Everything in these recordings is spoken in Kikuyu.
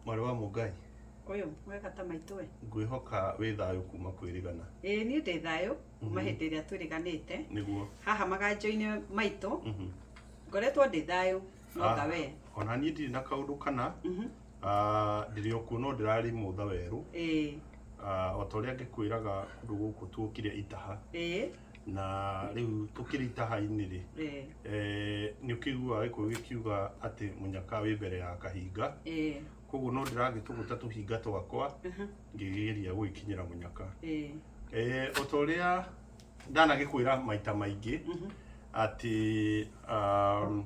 mwarĩ wa mũngai ũyũ mwega ta maitũ we ngwĩhoka wĩ thayũ kuma kwĩrĩgana ĩĩ niĩ ndĩ thayũ kuma hĩndĩ ĩrĩa twĩrĩganĩte nĩguo haha maganjo-inĩ maitũ Mhm. ngoretwo ndĩ thayũ no Ah, ta we ona niĩ ndirĩ na kaũndũ kana Mhm. Ah, ndĩrĩ o kuo no ndĩrarĩ mũtha werũ ĩĩ Ah, o ta ũrĩa ngĩkwĩraga kũndũ gũkũ tuokire itaha ĩĩ na rĩu tũkĩrĩ itaha-inĩ rĩ ĩĩ eh, nĩ ũkĩiguaga gĩkũyũ gĩkiuga atĩ mũnyaka wĩ mbere ya kahinga ĩĩ koguo no ndĩragĩtũgũta tũhinga twakwa ngĩgeria gũgĩkinyĩra mũnyaka ĩĩ Eh, o ta ũrĩa ndanagĩkwĩra maita maingĩ atĩ um,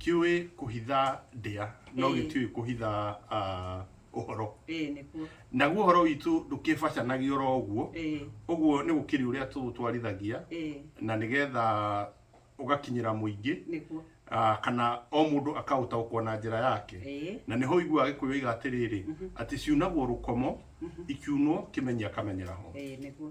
kiũĩ kuhitha ndia no Ĩĩ. gĩtiũĩ kuhitha ah, ũhoro ĩĩ nĩkuo naguo ũhoro witũ ndũkĩbacanagio oro ũguo ĩĩ ũguo nĩ gũkĩrĩ ũrĩa tũũtwarithagia ĩĩ na nĩgetha ũgakinyĩra mũingĩ nĩkuo ah, kana o mũndũ akaũtaũkwo na njĩra yake ĩĩ na nĩho iguaga gĩkũyũ oiga atĩrĩrĩ atĩ ciunagwo rũkomo ikiunwo kĩmenya akamenyera ho ĩĩ nĩkuo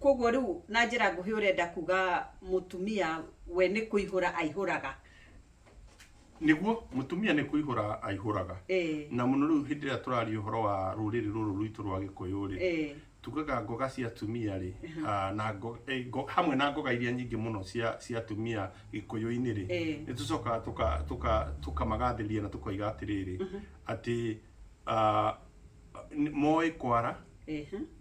Koguo rĩu na njĩra nguhĩ ũrenda kuga mũtumia we nĩ kũihũra aihũraga. nĩguo mũtumia nĩ kũihũra aihũraga Eh. na mũno rĩu hĩndĩ ĩrĩa tũraria ũhoro wa rũrĩrĩ rũrũ rwitũ rwa gĩkũyũ rĩ Eh. tugaga ngoga cia atumia rĩ ah, na ngo- eh, ngo- hamwe na ngoga iria nyingĩ mũno cia cia atumia gĩkũyũ-inĩ rĩ Eh. nĩ tũcokaga tũka- tũka- tũkamagathĩrĩria na tũkoiga atĩrĩrĩ atĩ ah, nĩ- moĩ kwara Eh.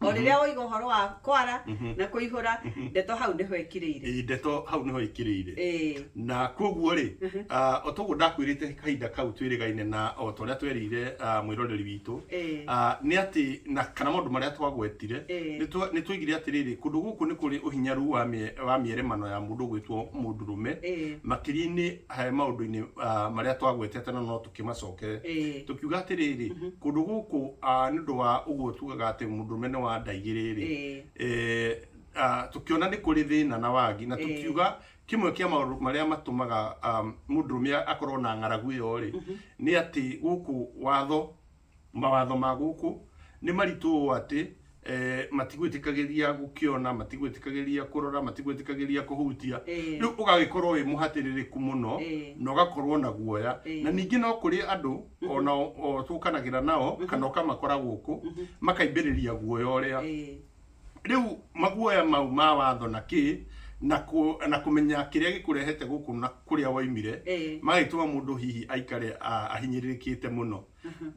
o mhm. rĩrĩa woiga ũhoro wa kwara mhm. na kũihũra mhm. ndeto hau nĩho ĩkirĩire ndeto hau nĩho ĩkirĩire na kwoguo rĩ ah, o toguo ndakwĩrĩte kahinda kau twĩrĩgaine na o ta ũrĩa twerĩire ah, mwĩroreri witũ ah, nĩ atĩ na kana maũndũ marĩa twagwetire nĩ twoigire atĩrĩrĩ kũndũ gũkũ nĩ kũrĩ ũhinyaru wa mĩeremano ya mũndũ gwĩtwo mũndũrũme makĩria-inĩ eh, maũndũ-inĩ marĩa twagwetete na no Tũkĩmacokerera Ĩĩ. tũkiuga atĩrĩrĩ, kũndũ gũkũ ah, nĩ ũndũ wa ũguo tugaga atĩ mũndũrũme nĩ wa nda igĩrĩ-rĩ, Ĩĩ. eh, ah, tũkĩona nĩ kũrĩ thĩna na wagi na tũkiuga kĩmwe kĩa maũndũ marĩa matũmaga ah, mũndũrũme akorwo na ng'aragu ĩyo-rĩ, nĩ atĩ gũkũ watho Mawatho ma gũkũ nĩ maritũ ũũ atĩ eh, matigwĩtĩkagĩria gũkĩona matigwĩtĩkagĩria kũrora matigwĩtĩkagĩria kũhutia Ĩĩ. rĩu ũgagĩkorwo wĩ mũhatĩrĩrĩku mũno Ĩĩ. na ũgakorwo na guoya Ĩĩ. na ningĩ no kũrĩ andũ ona o- o tũkanagĩra nao kana ũkamakora gũkũ makaimbĩrĩria guoya ũrĩa Ĩĩ. rĩu maguoya mau ma watho na kĩ na kũ- na kũmenya kĩrĩa gĩkũrehete gũkũ na kũrĩa woimire Ĩĩ. magagĩtũma mũndũ hihi aikare a- ahinyĩrĩrĩkĩte mũno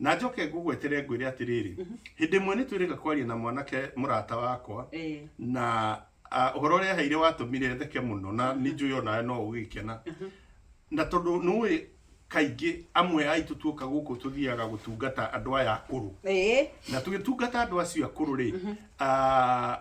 na njoke ngũgwetere ngwĩre atĩrĩrĩ hĩndĩ ĩmwe nĩtwĩrĩga kwaria na mwanake mũrata wakwa Eh. na ah, ũhoro ũrĩa aheire watũmire theke mũno na nĩ njũĩ o nawe no ũgĩkena na tondũ nĩũĩ kaingĩ amwe aitũ tuoka gũkũ tũthiaga gũtungata andũ aya akũrũ Eh. na tũgĩtungata andũ acio akũrũ rĩ ah,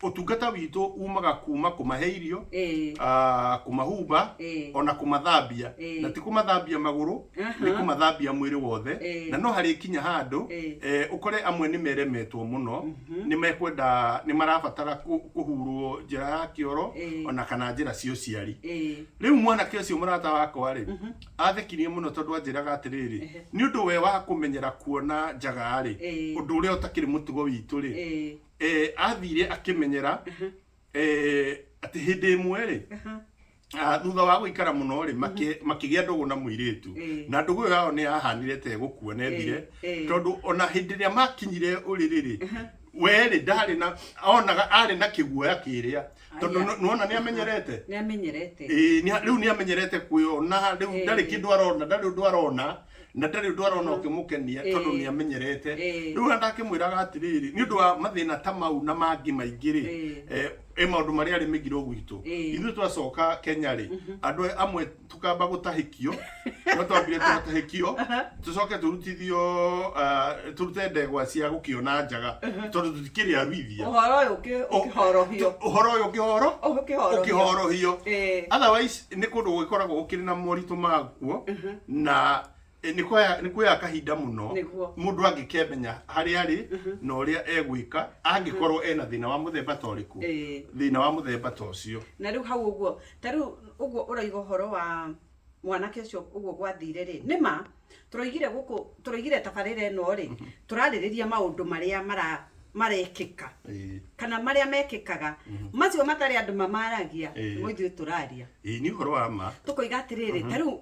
Ũtungata witũ uumaga kuuma kũmahe irio, Eh. ah, kũmahumba, Eh. o na kũmathambia. Eh. Na ti kũmathambia magũrũ, Aha. nĩ kũmathambia mwĩrĩ wothe. Eh. Na no harĩkinya handũ, Eh. eh, ũkore amwe nĩ meremetwo mũno, nĩ mekwenda, nĩ marabatara kũ- kũhurwo njĩra ya kĩoro, Eh. o na kana njĩra cia ũciari. Eh. Rĩu mwanake ũcio mũrata wakwa-rĩ, athekirie mũno tondũ anjĩraga atĩrĩrĩ, Ehe. nĩ ũndũ we wa kũmenyera kuona njaga-rĩ, Eh. ũndũ ũrĩa ũtakĩrĩ mũtugo witũ-rĩ, Eh. eh, athire akĩmenyera eh, atĩ hĩndĩ ĩmwe rĩ ah, thutha wa gũikara mũno rĩ makĩ- makĩgĩa ndũgũ na mũirĩtu Eh. na ndũgũ ĩyo yao nĩ yahanire te gũkua na ethire Eh, eh. tondũ ona hĩndĩ ĩrĩa makinyire ũrĩrĩ rĩ werĩ ndarĩ na onaga arĩ na kĩguoya kĩrĩa tondũ Aya. nĩ- nĩwona nĩ amenyerete nĩamenyerete Ĩĩ, nĩ- rĩu nĩ amenyerete kwĩyona rĩu Eh. ndarĩ kĩndũ arona ndarĩ ũndũ arona na ndarĩ ũndũ arona ũkĩmũkenia Ĩĩ. tondũ nĩ amenyerete Ĩĩ. rĩu arenda akĩmwĩraga atĩrĩrĩ nĩ ũndũ wa mathĩna ta mau na mangĩ maingĩ rĩ Ĩĩ. eh, ĩ maũndũ marĩa arĩ mĩgiro gwitũ Ĩĩ. ithuĩ twacoka kenya rĩ andũ amwe tũkamba gũtahĩkio no twambire tũgatahĩkio tũcoke tũrutithio ah, tũrute ndegwa cia gũkĩona njaga tondũ tũtikĩrĩ aruithia ũhoro ũyũ ũkĩ- Ũ- ũkĩhorohio tũ- ũhoro ũyũ ũkĩhoro ũkĩhorohio ũkĩhorohio Ĩĩ. otherwise nĩ kũndũ gũgĩkoragwo gũkĩrĩ na moritũ maguo na eh, nĩ kwaya- nĩ kuoya kahinda mũno Nĩguo. mũndũ angĩkĩmenya harĩa arĩ na ũrĩa egwĩka angĩkorwo ena thĩna wa mũthemba ta ũrĩkũ Ĩĩ. thĩna wa mũthemba ta ũcio na rĩu hau ũguo ta rĩu ũguo ũraiga ũhoro wa mwanake ũcio ũguo gwathire rĩ nĩ ma tũroigire gũkũ tũroigire tabarĩra ĩno rĩ tũrarĩrĩria maũndũ marĩa mara marekĩka Ĩĩ. kana marĩa mekĩkaga macio matarĩ andũ mamaragia Ĩĩ. nĩmo ithuĩ tũraria Ĩĩ, nĩ ũhoro wa ma tũkoiga atĩrĩrĩ ta rĩu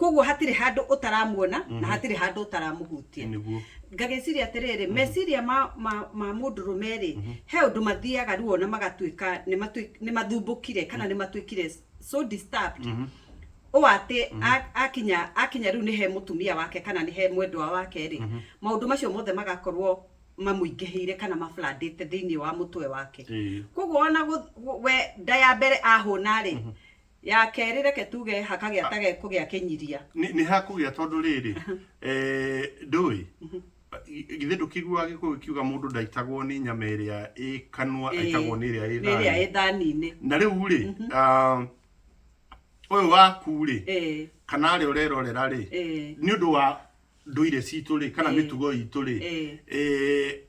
koguo hatirĩ handũ ũtaramuona na mhm. hatirĩ handũ ũtaramũhutia eh, ngagĩciria atĩrĩrĩ mhm. meciria ma mũndũrũme rĩ mhm. he ũndũ mathiaga ruo na magatuĩka nĩ mathumbũkire kana nĩ matuĩkire so disturbed o atä akinya akinya rä u nä he må tumia wake kana nä he mwendwa wake rä maå ndå macio mothe magakorwo mamuingihiire kana mablandite thiini wa mutwe wake koguo ona we nda ya mbere ahuna ri mhm. Ya kerĩ, reke tuge hakagĩa ta gekũgĩa kĩnyiria. Nĩ, nĩ hakũgĩa tondũ rĩrĩ, eh, ndũĩ, i- githĩ ndũkĩiguaga gĩkũyũ gĩkiuga mũndũ ndaitagwo nĩ nyama ĩrĩa ĩ kanua, Ĩĩ, aitagwo nĩ ĩrĩa ĩ nĩ ĩrĩa thani. ĩ thani-inĩ. Na rĩu rĩ, ah, ũyũ waku rĩ, Ĩĩ, kana arĩa ũrerorera rĩ, ĩĩ. nĩ ũndũ wa ndũire citũ rĩ kana Ĩĩ. mĩtugo itũ rĩ Ĩĩ. eh,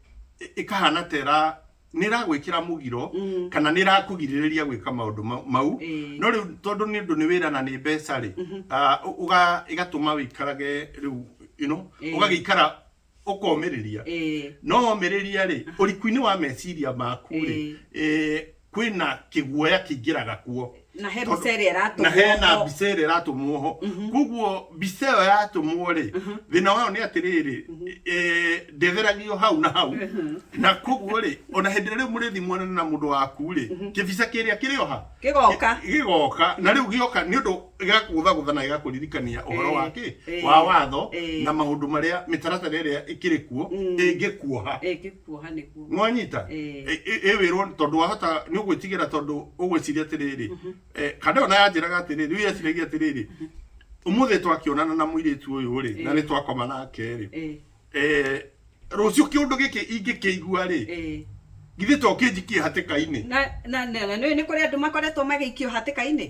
ĩkahana ta ĩra nĩ ĩragwĩkĩra mũgiro Mm. kana nĩ ĩrakũgirĩrĩria gwĩka maũndũ ma- mau Ĩĩ. no rĩu tondũ nĩ ũndũ nĩ wĩra na nĩ mbeca rĩ ah, ũ- ũga- ĩgatũma wĩikarage rĩu you know, Ĩĩ. ũgagĩikara ũkomĩrĩria Ĩĩ. no omĩrĩria rĩ ũriku-inĩ wa meciria maku rĩ Ĩĩ. eh, kwĩna kĩguoya kĩingĩraga kuo na he mbica ĩrĩa ĩratũmwo na hena ho. mbica ĩrĩa ĩratũmwo ho koguo mbica ĩyo yatũmwo rĩ thĩna wayo nĩ atĩrĩrĩ eh, ndĩtheragio hau na hau na koguo rĩ ona hĩndĩ ĩrĩa rĩu mũrĩthimuanana na mũndũ waku rĩ kĩbica kĩrĩa kĩrĩoha Gĩgoka. gĩgoka na rĩu gĩoka nĩ ũndũ ĩgakũgũthagũtha na ĩgakũririkania ũhoro Eh, wa kĩ eh, wa watho eh. na maũndũ marĩa mĩtaratara ĩrĩa ĩkĩrĩ kuo Mm. ĩngĩkuoha ĩngĩkuoha nĩguo nĩwanyita Eh. Ĩ- ĩ- ĩwĩrwo tondũ wahota nĩ ũgwĩtigĩra tondũ ũgwĩciria atĩrĩrĩ eh, kana ĩyo na yanjĩraga atĩrĩrĩ rĩu yeciragia atĩrĩrĩ ũmũthĩ twakĩonana na mũirĩtu ũyũ rĩ na Eh. nĩ twakoma nake rĩ Eh, eh, rũciũ kĩũndũ gĩkĩ ingĩkĩigua rĩ eh. githĩ to kĩnjikie hatĩka-inĩ na na na na nĩ nĩ kũrĩ andũ makoretwo magĩikio hatĩka-inĩ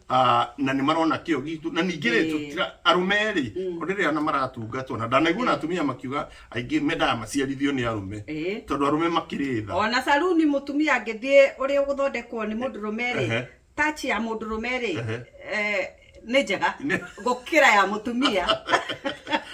Ah, na nä marona kä o gitå na ningä rä Ĩĩ. tå arå me rä Mm. rä rä a na maratungatwo na ndanaigua na atumia makiuga aingä mendaga maciarithio nä arå me Ĩĩ. tondå arå me makä rä tha ona saruni mutumia angĩthiĩ ũrĩ ũgũthondekwo nĩ mũndũ rũme Ehe. rĩ tachi ya mũndũ rũme rĩ Ehe. eh, nĩ njega Nĩ- gũkĩra ya mũtumia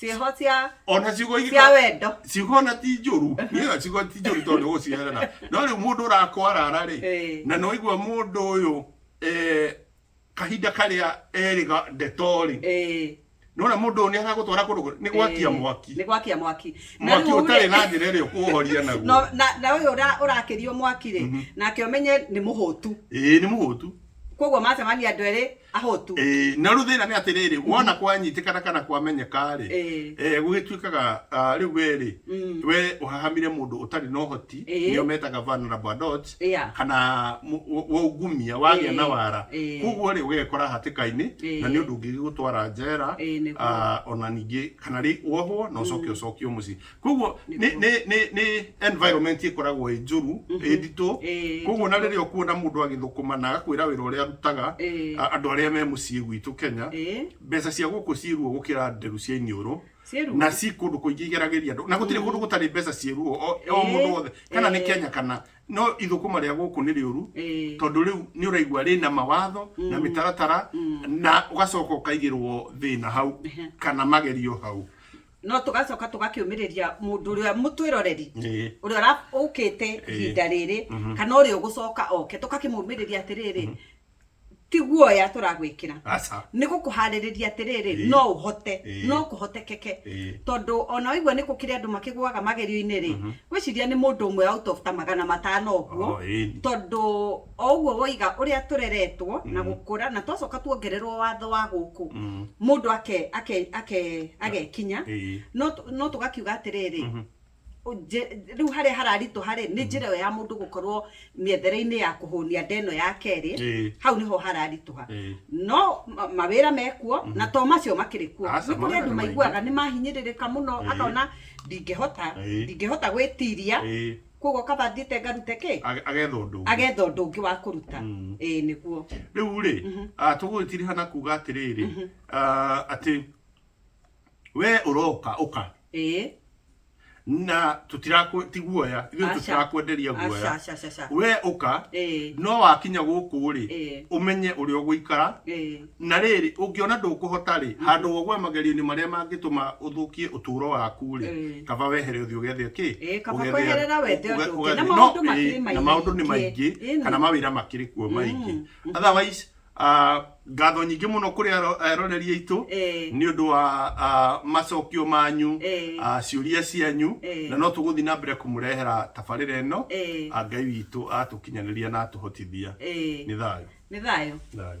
ciĩho cia ona ciugo ingĩ cia wendo ciugo ona ti njũru niyo ciugo ti njũru tondũ gũciherana no rĩu mũndũ ũrakwarara rĩ Eh. na no igua mũndũ ũyũ eh, kahinda karĩa erĩga ndeto rĩ Eh, nona mũndũ ũyũ nĩ aragũtwara kũndũ kũ- nĩ gwakia eh, mwaki nĩ gwakia mwaki Na mwaki rĩu rĩ- ũtarĩ na njĩra ĩrĩa ũkũhoria naguo No- na- na ũyũ ũra- ũrakĩrio mwaki rĩ nake ũmenye nĩ mũhũtu ĩĩ nĩ mũhũtu koguo macemania andũ erĩ Ahotu. Ĩ, no rĩu thĩna nĩ atĩrĩrĩ wona kwanyitĩkana kana kwamenyeka rĩ Ĩ. eh, gũgĩtuĩkaga ah, rĩu we rĩ Mm. we ũhahamire mũndũ ũtarĩ na ũhoti Ĩ. nĩo metaga vulnerable adults Yeah. kana mũ- wa- waungumia wagĩa Ĩ. na wara Ĩ. koguo rĩ ũgegekora hatĩka-inĩ Ĩ. na nĩ ũndũ ũngĩgĩgũtwara njera Ĩ, nĩguo. ah, ona ningĩ kana rĩ wohwo na ũcoke ũcokio mũciĩ koguo nĩ nĩ nĩ nĩ environment ĩkoragwo ĩ njũru ĩ nditũ Ĩĩ, koguo na rĩrĩa ũkuona mũndũ agĩthũkũma na agakwĩra wĩra ũrĩa arutaga Ĩĩ. a- andũ arĩa me mũciĩ gwitũ Kenya Ĩĩ. mbeca cia gũkũ ciĩ ruo gũkĩra nderu cia iniũrũ Ciĩ ruo. na ci kũndũ kũingĩ igeragĩria andũ na gũtirĩ kũndũ gũtarĩ mbeca ciĩ ruo o o Ĩĩ. mũndũ wothe kana nĩ Ĩĩ. Kenya kana no ithũkũma rĩa gũkũ nĩ rĩũru Ĩĩ. tondũ rĩu nĩ ũraigua rĩna mawatho na mĩtaratara na ũgacoka ũkaigĩrwo thĩna hau kana magerio hau no tũgacoka tũgakĩũmĩrĩria mũndũ ũrĩa mũtwĩroreri Ĩĩ. ũrĩa ũra- ũkĩte ihinda rĩrĩ kana ũrĩa ũgũcoka oke tũkakĩmũmĩrĩria atĩrĩrĩ ti guoya tũragwĩkĩra aca nĩ gũkũharĩrĩria atĩrĩrĩ Ĩĩ. no ũhote Ĩĩ. no kũhotekeke Ĩĩ. tondũ ona waigua nĩ gũkĩrĩ andũ makĩgũaga magerio-inĩ rĩ gwĩciria nĩ mũndũ ũmwe out of ta magana matano ũguo Oh, ĩni. tondũ o ũguo woiga ũrĩa tũreretwo na gũkũra na twacoka tuongererwo watho wa gũkũ mũndũ ake ake ake agekinya Ĩĩ. no tũ- no tũgakiuga atĩrĩrĩ nje- rĩu harĩa hararitũ harĩ nĩ njĩra ĩyo ya mũndũ gũkorwo mĩethere-inĩ ya kũhũnia nda ĩno ya kerĩ Ĩĩ. hau nĩho hararitũha Ĩĩ. no ma- mawĩra mekuo na to macio makĩrĩ kuo Aca, nĩ kũrĩ mawĩra andũ nĩ maingĩ. maiguaga nĩ mahinyĩrĩrĩka mũno Ĩĩ. akona ndingĩhota Ĩĩ. ndingĩhota gwĩtiria Ĩĩ. koguo ũkaba thiĩte ngarute kĩ Age- agetha ũndũ ũngĩ. agetha ũndũ ũngĩ wa kũruta Mm. ĩĩ nĩguo rĩu rĩ ah, tũgũgĩtiriha na kuga atĩrĩrĩ ah, atĩ we ũroka ũka ĩĩ na tũtirakwe ti guoya ithuĩ Aca. tũtirakwenderia Aca, guoya aca, aca, aca. we ũka ĩĩ no wakinya gũkũ rĩ Ĩĩ. ũmenye ũrĩa ũgũikara ĩĩ Na rĩrĩ, ũngĩona ndũkũhota-rĩ, handũ wa ũgwe magerio-inĩ marĩa mangĩtũma ũthũkie ũtũũro waku-rĩ, Ĩĩ. kaba wehere ũthiĩ ũgethe kĩ? Ĩĩ, kaba Ũgethe- kweherera wethe ũge- ũndũ ũngĩ. Na ũgethe- maũndũ no, makĩrĩ ĩĩ, na maũndũ nĩ maingĩ. maingĩ Ĩĩ. kana mawĩra makĩrĩ kuo maingĩ Mm. otherwise ah, ngatho nyingĩ mũno kũrĩ aro- aroreri aitũ Ĩĩ. nĩ ũndũ wa ah, macokio manyu Ĩĩ. ah, ciũria cianyu Ĩĩ. na no tũgũthiĩ na mbere kũmũrehera tabarĩra ĩno Ĩĩ. Ah, ngai witũ atũ Kinyanĩria na atũhotithia. Ĩĩ. Nĩ thayũ. Nĩ thayũ. Thayũ.